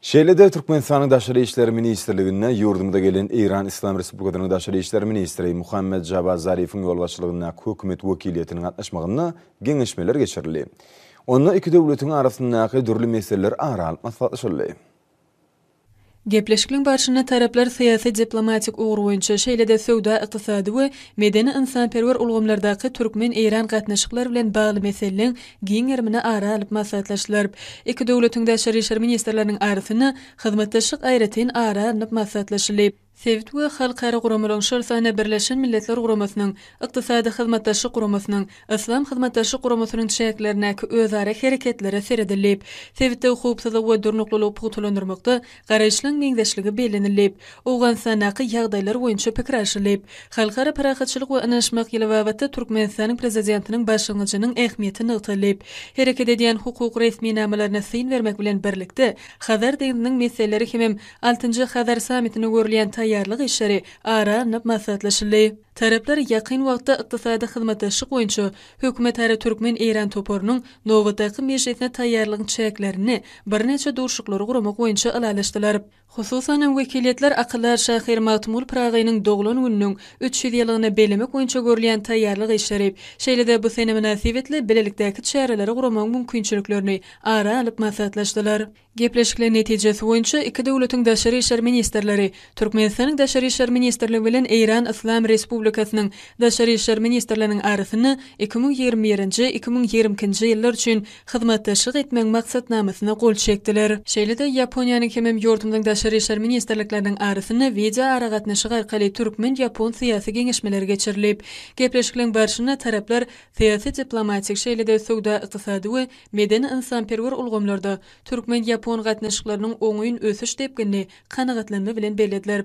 Şeýle-de Türkmenistanyň Daşary işler ministrliginde ýurdumyza gelen Eýran Yslam Respublikasynyň Daşary işler ministri Muhammed Jawad Zarifiň ýolbaşçylygyndaky hökümet wekiliýetiniň gatnaşmagynda geňeşmeler geçirildi. Onda iki döwletiň arasyndaky dürli meseleler ara alyp maslahatlaşyldy. Gepleşikliň barşynda taraplar syýasy-diplomatik ugur boýunça, şeýle-de söwda-ykdysady we medeni-ynsanperwer ulgamlardaky türkmen-eýran gatnaşyklary bilen bagly meseleleň giň gerimini ara alyp maslahatlaşylar. Iki döwletiň daşary işler ministrleriniň arasynda hyzmatdaşlyk aýratyn ara alnyp maslahatlaşyldy. Sebit we halkara guramalaryň, şol sanda Birleşen Milletler Guramasynyň, Ykdysady Hyzmatdaşlyk Guramasynyň, Yslam Hyzmatdaşlyk Guramasynyň çäklerindäki özara hereketlere seredildi. Sebitdäki howpsuzlygy we durnuklylygy pugtalandyrmakda Garaýyşlaň meňzeşligi bellenilip, Owganystandaky ýagdaýlar boýunça pikir alşylyp, Halkara parahatçylyk we ynanyşmak ýyly babatda Türkmenistanyň Prezidentiniň başlangyjynyň ähmiýeti nygtalyp, hereket edýän hukuk resminamalaryna syn bermek bilen birlikde, Hazar deňziniň meseleleri hemem altynjy Hazar sammitine görülýän taýýarlyk işleri ara alnyp maslahatlaşyldy. Taraplar ýakyn wagtda ykdysady hyzmatdaşlyk boýunça hökümetara türkmen-eýran toparynyň nobatdaky mejlisine taýýarlygyň çäklerinde birnäçe duşuşyklary guramak boýunça ylalaşdylar. Hususan hem wekiliýetler akyldar şahyr Magtymguly Pyragynyň doglan gününiň üç ýüz ýyllygyny bellemek boýunça görülýän taýýarlyk işleri, şeýle-de bu sene mynasybetli bilelikdäki çäreleri guramagyň mümkinçiliklerini ara alyp maslahatlaşdylar. Gepleşikler netijesi boýunça iki döwletiň daşary işler ministrleri Türkmenistanyň Daşary işler ministrligi bilen Eýran Yslam Respublikasynyň Daşary işler ministrliginiň arasynda iki müň ýigrimi birinji, iki müň ýigrimi ikinji ýyllar üçin hyzmatdaşlyk etmegiň maksatnamasyna gol çekdiler. Şeýle-de, Ýaponiýanyň hemem ýurdumyzyň Daşary işler ministrlikleriniň arasynda wideoaragatnaşyk arkaly türkmen-ýapon syýasy geňeşmeleri geçirilip, gepleşikleň barşynda taraplar syýasy-diplomatik, şeýle-de söwda-ykdysady we medeni-ynsanperwer ulgamlarda türkmen-ýapon gatnaşyklarynyň oňyn ösüş depginini kanagatlanma bilen bellediler.